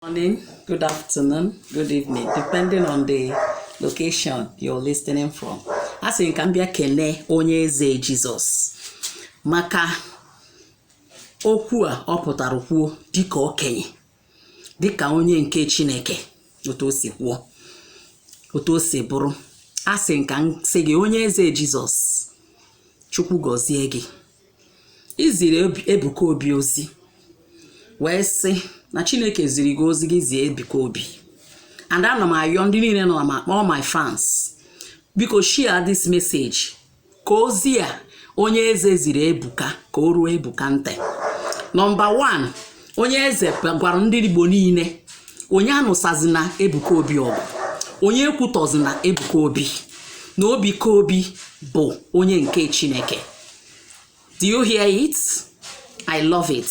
morning, good afternoon, good evening, depending on the location you're listening from. Asị m ka m bịa kene onye eze Jizọs maka okwu a ọ pụtara kwuo dịka okenye dịka onye nke Chineke otu o si kwuo otu o si bụrụ asị m ka m sị gị onye eze Jizọs Chukwu gọzie gị i ziri Ebuka Obi ozi wee sị na Chineke ziri gị ozi gị zie Ebuka Obi and ana m ayọ ndị niile nọ ma all my fans biko share this message ka ozi a onye eze ziri Ebuka ka o ruo Ebuka ntị nọmba 1 onye eze gwara ndị Igbo niile onye anụsazina Ebuka Obi ọgụ onye ekwutọzina Ebuka Obi na Ebuka Obi bụ onye nke Chineke do you hear it i love it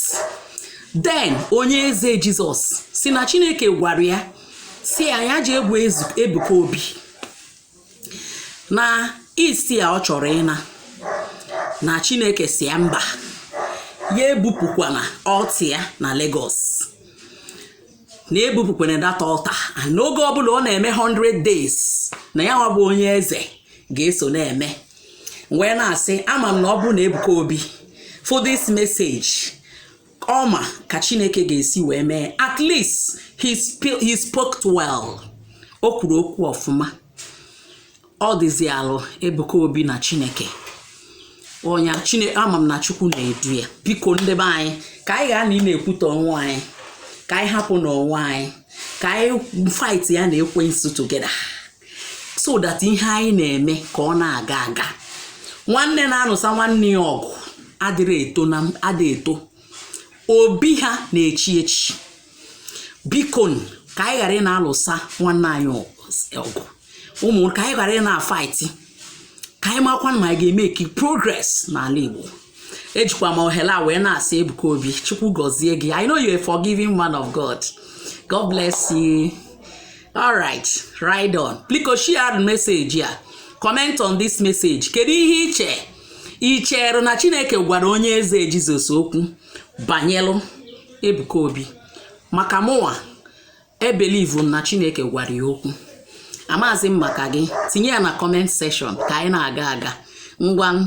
then onye eze jizọs sị na chineke gwara ya sị ya ya jee gwa ezu- ebuka obi na east a ọ chọrọ ịna na chineke sị ya mba ya ebupụkwana altar ya na Lagos na ebupụkwana that altar and n'oge ọbụla ọ na-eme 100 days na ya nwa bụ onye eze ga-eso na-eme wee na-asị ama m na ọ bụrụ na Ebuka Obi fụ this message ọ ma ka Chineke ga-esi wee mee at least he, sp- he spoke well o kwuru okwu ọfụma ọ dịzialụ Ebuka Obi na Chineke onye Chineke ama m na Chukwu na-edu ya biko ndị be anyị ka anyị ghara ị na-ekwutọ onwe anyị ka anyị hapụ n'onwe anyị ka anyị fight ya na ekwensu together so that ihe anyị na-eme ka ọ na-aga aga nwanne na-anụsa nwanne ya ọgụ adịrị eto na adị eto obi ha na-echi echi biko ka anyị ghara ị na-alụsa nwanne anyị ọgụ ụmụ ka anyị ghara ị na-afaiti ka anyị makwa na anyị ga-emeki progress n'ala Igbo ejikwa m ohere a wee na-asị Ebuka Obi Chukwu gọzie gị I know you're a forgiving man of God God bless you alright ride on biko share meseji a comment on this message kedu ihe i che i chere na chineke gwara onye eze jizọs okwu banyelụ ebuka obi maka mụnwa ebelivu na chineke gwara ya okwu amazi m maka gị tinye ya na comment section ka anyị na-aga aga ngwa